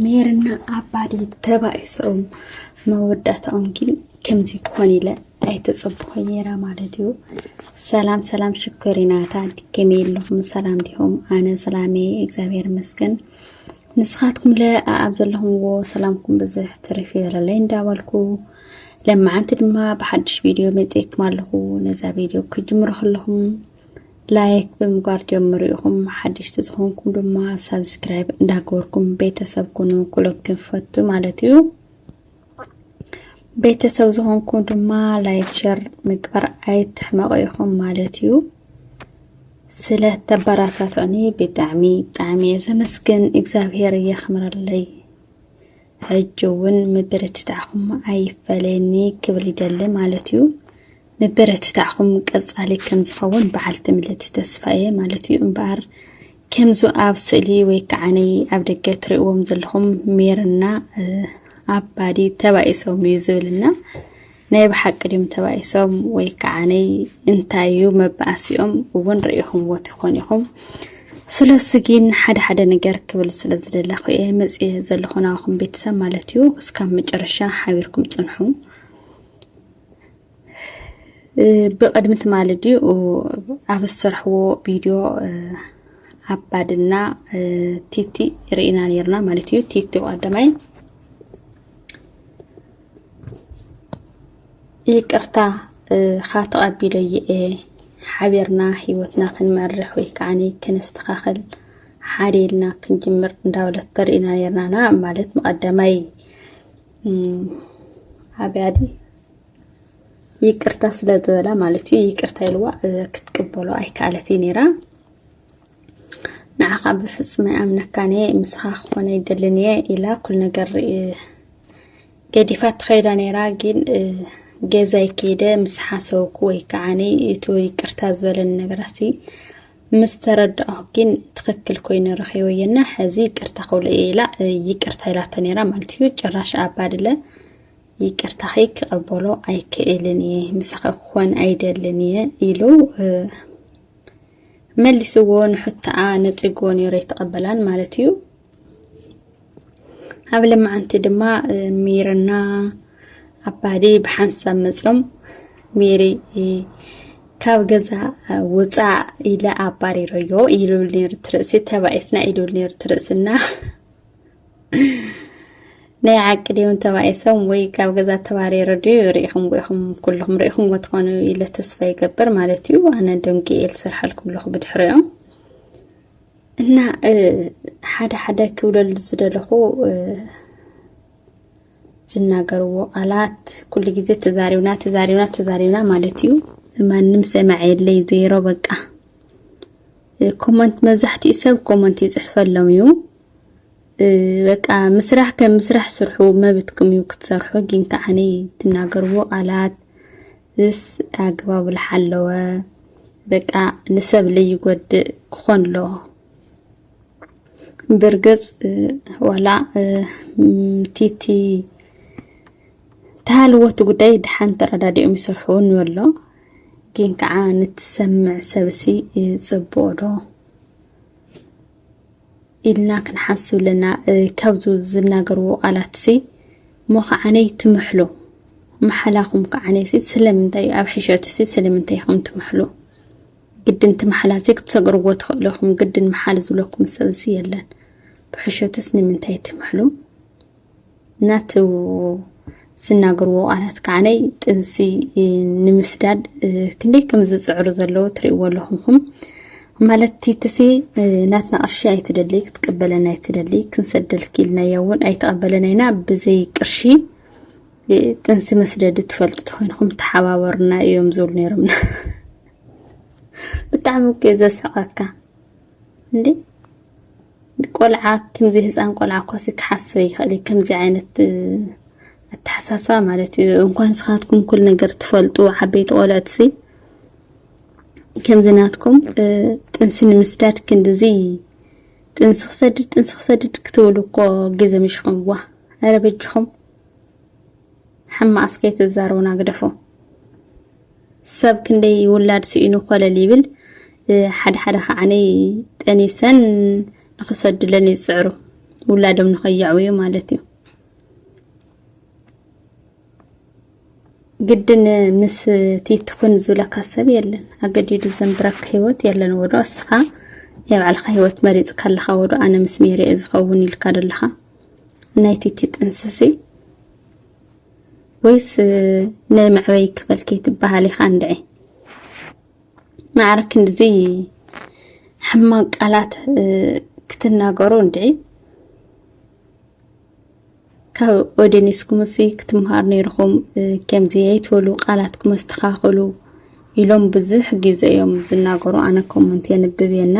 ሜርና ኣባዲ ተባኢሶም መወዳእታኦም ግን ከምዚ ክኾን ኢለ ኣይተፀብኹ ነይረ ማለት እዩ። ሰላም ሰላም ሽኮሪናታ ድከመ ኣለኹም ሰላም ዲኹም? ኣነ ሰላሜ እግዚኣብሔር ይመስገን። ንስኻትኩም ለ ኣብ ዘለኹምዎ ሰላምኩም ብዝሕ ትርፍ ይበለለይ እንዳበልኩ ለመዓንቲ ድማ ብሓድሽ ቪድዮ መፅኤኩም ኣለኹ። ነዛ ቪድዮ ክጅምሮ ከለኹም ላይክ ብምግባር ጀምሩ ኢኹም ሓደሽቲ ዝኾንኩም ድማ ሳብስክራይብ እንዳገበርኩም ቤተሰብ ኩኑ ኩሎም ክንፈቱ ማለት እዩ ቤተሰብ ዝኾንኩም ድማ ላይክ ሸር ምግባር ኣይትሕመቑ ኢኹም ማለት እዩ ስለ ተበራታትዑኒ ብጣዕሚ ብጣዕሚ እየ ዘመስግን እግዚኣብሄር የኽምረለይ ሕጂ እውን ምብርትታዕኹም ኣይፈለየኒ ክብል ይደሊ ማለት እዩ። ምብርትታዕኹም ቀጻሊ ከም ዝኸውን በዓልቲ ምልእቲ ተስፋ እየ ማለት እዩ። እምበኣር ከምዚ ኣብ ስእሊ ወይ ከዓ ነይ ኣብ ደገ እትርእዎም ዘለኹም ሜርና ኣባዲ ተባኢሶም እዩ ዝብልና ናይ ብሓቂ ድም ተባኢሶም ወይ ከዓነይ እንታይ እዩ መባእሲኦም እውን ርእኹምዎ ትኾን ኢኹም ስለሱ ግን ሓደ ሓደ ነገር ክብል ስለ ዝደለኹ እየ መፅየ ዘለኹ ናባኹም ቤተሰብ ማለት እዩ እስካብ መጨረሻ ሓቢርኩም ፅንሑ ብቅድሚ ትማሊ ድዩ ኣብ ዝሰርሕዎ ቪድዮ ኣባድና ቲቲ ርኢና ነርና ማለት እዩ ቲቲ ቀዳማይ ይቅርታ ኻ ተቐቢሎ እየ ሓቢርና ሂወትና ክንመርሕ ወይ ከዓ ከነስተኻኸል ሓደ ኢልና ክንጅምር እንዳበለት ተርእና ነርናና ማለት መቐደማይ ኣብያዲ ይቅርታ ስለ ዝበላ ማለት እዩ ይቅርታ ኢልዋ ክትቅበሎ ኣይከኣለት እዩ ነይራ ንዓኻ ብፍጹም ኣይኣምነካን እየ ምስኻ ክኾነ ይደልን እየ ኢላ ኩል ነገር ገዲፋ ትኸይዳ ነይራ ግን ገዛይ ከይደ ምስ ሓሰውኩ ወይ ከዓኒ እቲ ይቅርታ ዝበለኒ ነገራት ምስ ተረዳኦ ግን ትኽክል ኮይኑ ረኺበየና ሕዚ ይቅርታ ክብሎ እየ ኢላ ይቅርታ ኢላቶ ነይራ ማለት እዩ ጭራሽ ኣባድለ ይቅርታኺ ክቐበሎ ኣይክእልን እየ ምሳኺ ክኾን ኣይደልን እየ ኢሉ መሊስዎ ንሑታኣ ነጺግዎ ነይሩ ኣይተቐበላን ማለት እዩ ኣብ ለማዓንቲ ድማ ሜርና ኣባዲ ብሓንሳብ መፅኦም ሜሪ ካብ ገዛ ውፃእ ኢለ ኣባሪረዮ ኢሉብል ነይሩ ትርእሲ ተባኢስና ኢሉብል ነይሩ ትርእስና ናይ ዓቂ ድዮም ተባኢሶም ወይ ካብ ገዛ ተባሪሩ ድዩ ርኢኹም ኢኹም ኩልኹም ርኢኹምዎ ትኾኑ ኢለ ተስፋ ይገብር ማለት እዩ ኣነ ደንጊኤል ስርሓልኩም ኣለኹ ብድሕሪኦም እና ሓደ ሓደ ክብለሉ ዝደለኹ ዝናገርዎ ቃላት ኩሉ ግዜ ተዛሪብና ተዛሪብና ተዛሪብና ማለት እዩ ማንም ሰማዕ የለይ ዜሮ በቃ ኮመንት መብዛሕትኡ ሰብ ኮመንት ይፅሕፈሎም እዩ በቃ ምስራሕ ከም ምስራሕ ስርሑ መብትኩም እዩ ክትሰርሑ ግን ከዓኒ ትናገርዎ ቃላት ምስ ኣግባቡ ዝሓለወ በቃ ንሰብ ለይጎድእ ክኾን ኣለዎ ብርግፅ ዋላ ቲቲ ተሃልወቲ ጉዳይ ድሓን ተረዳዲኦም ይሰርሑ ንበሎ ግን ከዓ ንትሰምዕ ሰብሲ ፅቡቅ ዶ ኢልና ክንሓስብ ኣለና ካብዚ ዝናገርዎ ቃላት ሲ እሞ ከዓነይ ትምሕሉ መሓላኹም ከዓነይ ሲ ስለምንታይ እዩ ኣብ ሕሸት ሲ ስለምንታይ ኢኹም ትምሕሉ ግድን ትምሓላ ሲ ክትሰግርዎ ትኽእሉ ኢኹም ግድን መሓል ዝብለኩም ሰብ ሲ የለን ብሕሸትስ ንምንታይ ትምሕሉ ናቱ ዝናገርዎ ቃላት ከዓነይ ጥንሲ ንምስዳድ ክንደይ ከም ዝፅዕሩ ዘለዎ ትርእይዎ ኣለኹምኹም ማለት ቲትሲ ናትና ቅርሺ ኣይትደሊ ክትቀበለና ኣይትደሊ ክንሰደልኪ ኢልናያ እውን ኣይተቐበለና ኢና ብዘይ ቅርሺ ጥንሲ መስደዲ ትፈልጡ ተኮይንኹም ተሓባበሩና እዮም ዝብሉ ነይሮም ብጣዕሚ እኮ ዘስዕቐካ እንዴ ቆልዓ ከምዚ ህፃን ቆልዓ እኳሲ ክሓስበ ይኽእል እዩ ከምዚ ዓይነት ኣተሓሳስባ ማለት እዩ እንኳን ስኻትኩም ኩል ነገር ትፈልጡ ዓበይቲ ቆልዕትሲ ከምዚ ናትኩም ጥንሲ ንምስዳድ ክንድዚ ጥንሲ ክሰድድ ጥንሲ ክሰድድ ክትብሉ እኮ ግዜ ምሽኹምዋ ኣረ በጅኹም ሕማቅ እስከ ኣይትዛረቡና ግደፉ። ሰብ ክንደይ ውላድ ስኢኑ ኮለል ይብል ሓደ ሓደ ከዓኒ ጠኒሰን ንክሰድለን ይፅዕሩ ውላዶም ንከየዕውዩ ማለት እዩ። ግድን ምስ ትይትኩን ዝብለካ ሰብ የለን ኣገዲዱ ዘንብረካ ሂወት የለን ወዶ እስኻ ናይ ባዕልኻ ሂወት መሪፅካ ኣለኻ ወዶ ኣነ ምስ ሜሪ እየ ዝኸውን ኢልካ ደለኻ ናይ ትይቲ ጥንስሲ ወይስ ናይ መዕበይ ክፈል ከይትበሃል ኢኻ እንድዒ ማዕረ ክንድዚ ሕማቅ ቃላት ክትናገሩ እንድዒ ካብ ኦዴኔስኩምሲ ክትምሃር ነይርኹም ከምዚ ኣይትበሉ ቃላትኩም ኣስተኻኽሉ ኢሎም ብዙሕ ግዜ እዮም ዝናገሩ ኣነ ኮመንት የንብብ የና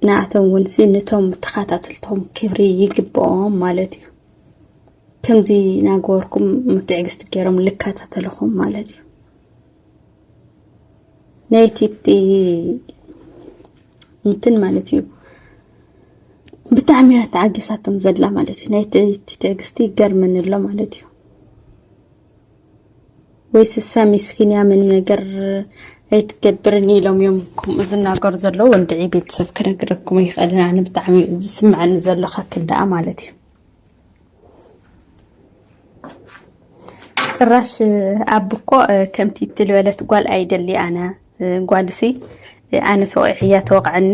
ንኣቶም እውንሲ ነቶም ተኸታተልቶም ክብሪ ይግብኦም ማለት እዩ ከምዚ ናገበርኩም ምትዕግስቲ ገይሮም ልከታተልኹም ማለት እዩ ናይቲ እንትን ማለት እዩ ብጣዕሚ እያ ተዓጊሳቶም ዘላ ማለት እዩ ናይቲ ትዕግስቲ ይገርመኒ ኣሎ ማለት እዩ ወይ ስሳ ሚስኪን እያ ምንም ነገር ኣይትገብርን ኢሎም እዮም ከምኡ ዝናገሩ ዘለዉ ወንድዒ ቤተሰብ ክነግረኩም ይኽእልን ኣነ ብጣዕሚ ዝስምዐኒ ዘሎ ከክል ደኣ ማለት እዩ ጭራሽ ኣብ እኮ ከምቲ እትልበለት ጓል ኣይደሊ ኣነ ጓልሲ ኣነ ተወቂዕያ ተወቕዐኒ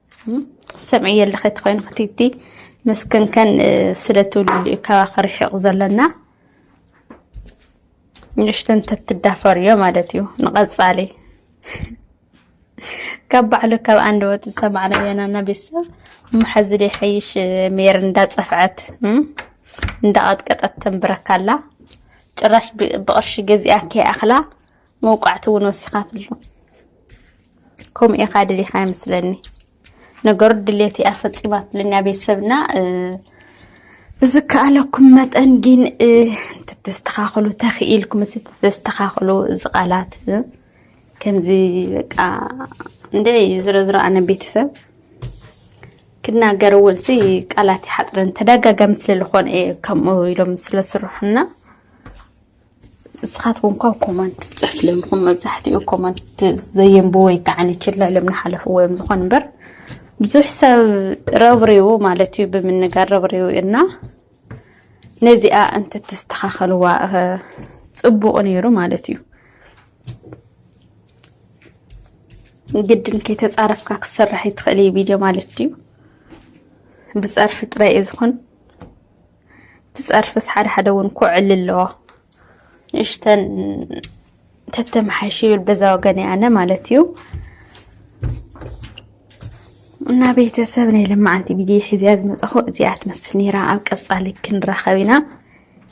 ሰምዕዮ ኣለኺ ተኮይኑ ክትቲ ምስክንከን ስለትውልሉ እዩ ካባ ክርሕቕ ዘለና ንእሽተን ተትዳፈርዮ ማለት እዩ ንቐፃሊ ካብ ባዕሉ ካብ ኣንድ ወጥ ዝሰማዕና የናና ቤተሰብ መሓዚ ደይ ሓይሽ ሜር እንዳፀፍዐት እንዳቐጥቀጠት ተንብረካላ ጭራሽ ብቕርሺ ገዚኣ ከይኣኽላ መውቃዕቲ እውን ወሲኻትሉ ከምኡ ኢኻ ድሊኻ ይመስለኒ ነገሩ ድሌት እያ ፈፂማትለኛ ቤተሰብና ብዝከኣለኩም መጠን ግን ተተስተኻኽሉ ተኽኢልኩም እ ተተስተኻኽሉ እዚ ቃላት ከምዚ በቃ እንደ ዝሮ ዝሮ ኣነ ቤተሰብ ክናገር እውን ሲ ቃላት ይሓጥረን ተደጋጋሚ ስለዝኾነ ከምኡ ኢሎም ስለስርሑና ንስኻትኩም እኳ ኮመንት ትጽሕፍ ለሚኹም መብዛሕትኡ ኮመንት ዘየንብ ወይ ከዓ ንችላ ኢሎም ንሓለፍዎ እዮም ዝኾን እምበር ብዙሕ ሰብ ረብሪቡ ማለት እዩ ብምንጋር ረብሪቡ እና ነዚኣ እንትትስተኻኸልዋ ፅቡቕ ነይሩ ማለት እዩ ግድን ከይተፃረፍካ ክሰራሕ ይትኽእል ቪድዮ ማለት እዩ ብፀርፊ ጥራይ እዩ ዝኾን ትጸርፍስ ሓደ ሓደ እውን ኮዕሊ ኣለዎ ንእሽተን ተተመሓይሽ ይብል በዛ ወገን ኣነ ማለት እዩ እና ቤተሰብ ናይ ልማዓንቲ ቪድዮ ሒዝያ ዝመፀኹ እዚኣ ትመስል ነይራ ኣብ ቀፃሊ ክንራኸብ ኢና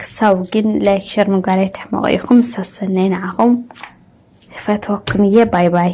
ክሳብ ግን ላይክ ሸር ምግባር ትሕመቑ ኢኹም ሰሰናይ ንዓኹም ፈትወኩም እየ ባይ ባይ